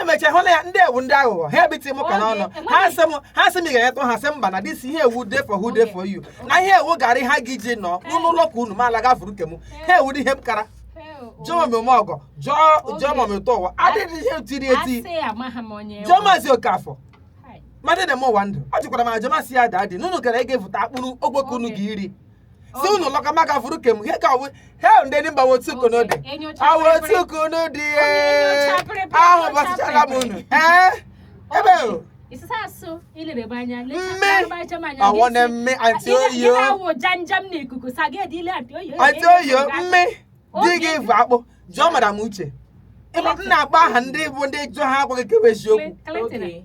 emechaa hụ na ya ndị a wụ ndị aghụghọ ha ebiti m aka n'ọnụ ha sị m ha sị m ị ga-enyetụ ha sị mba na this year ọ wụ dey for who dey for you na ihe ọ wụ garị ha gị ji nọ n'ụlọ ụlọ ka unu ma ala gafuru nke m ha ewu dị ihe m kara jụọ m ome ọgọ jụọ jụọ m ụtọ ụwa adịghị ihe tiri eti asị amaghị m onye jụọ maazị okafọ Hai. mmadụ na-eme ụwa ndụ ọ jụkwara m ajụmasị ya daa dị na unu gara ị ga-evụta akpụrụ ogboke unu ga iri si unu lọka maka furu kem he ka we he ndị ndị mba wotu kono dị awotu kono dị ee ahụ bọsịchara m unu ee ebe o Isisa asụ ilirebe anya Mme. lecha m anya ọ wụ na mme anti oyo awụ janjam na ikuku sa gị edile anti oyo anti oyo mme di gị vụ akpụ jụọ madam uche ịma m na-akpọ aha ndị bụ ndị jụọ ha agwa gị ke wụ eziokwu Clinton Okay.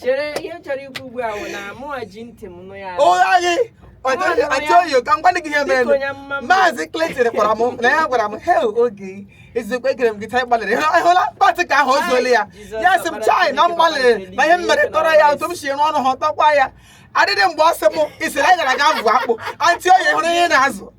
chere ihe m chọrọ ikwu ugbu a bụ na mụnwa ji ntị m nụ ya ụgha gị achọghị ka m gwa gị ihe mere Biko ya mma mma. maazị Clinton gwara m na ya gwara m hei oge ezigbo egere m gị taa ị gbalịrị Ị hụla- ị hụla part ke ahụ o zuola ya Jizọs ya sị m ọbara chai na m Chineke gbalịrị na ihe m mere tọrọ ya otu m si rụọ ọrụ ha tọkwa ya adịdị mgbe ọ sị m isiri anyị gara ga ịvụ akpụ anti oyo hụrụ ihe ị na-azụ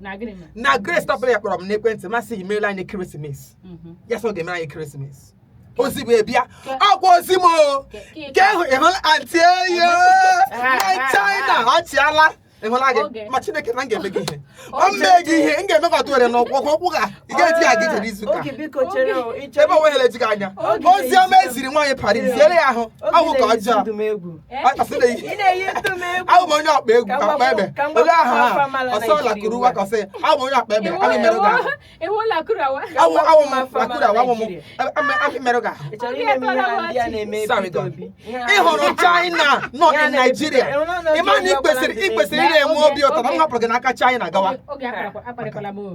na gịnị mere na grace tọpụrụ ya kpọrọ m n'ekwentị ma sị gị meela anyị Christmas Mhm. ya so ga-emere anyị Christmas ozi bụ ebe a Ke- ọkwa ozi m o Ke- ke- ka ịhụ ịhụla anti oyo na china achịala ịhụla gị Oge. ma chineke na m ga-eme gị ihe ọ Oge. mee gị ihe m ga-eme ka ọtụ were n'ụkwụ ụkwụ ụkwụ ga ị ga-eji ya gị jere izu ụka Oge biko chere o, ị ebe chọrọ- onwe ha ejighị anya Oge ozi ọma na-ezu- eziri nwaanyị paris ziere ya ahụ Oge ọ wụ ka na-ezu ọjọọ ndụ m egwu. awụ m onye ọkpa egwu akpa ebe ole aha ha ọsọ lakurawa ka ọ sị awụ m onye ọkpa ebe amị merụ gị ahụ awụ lakurawa awụ m amị merụ gị ahụ ị hụrụ china nọ na naijiria ịma na i kwesịrị i kwesịrị ị na-enwe obi ụtọ na m hapụrụ gị n'aka china gawa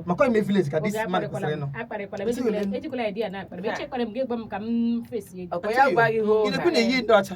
maka ime village ka this man kwesịrị ịnọ ị na-ekwu na-eyi ndị ọcha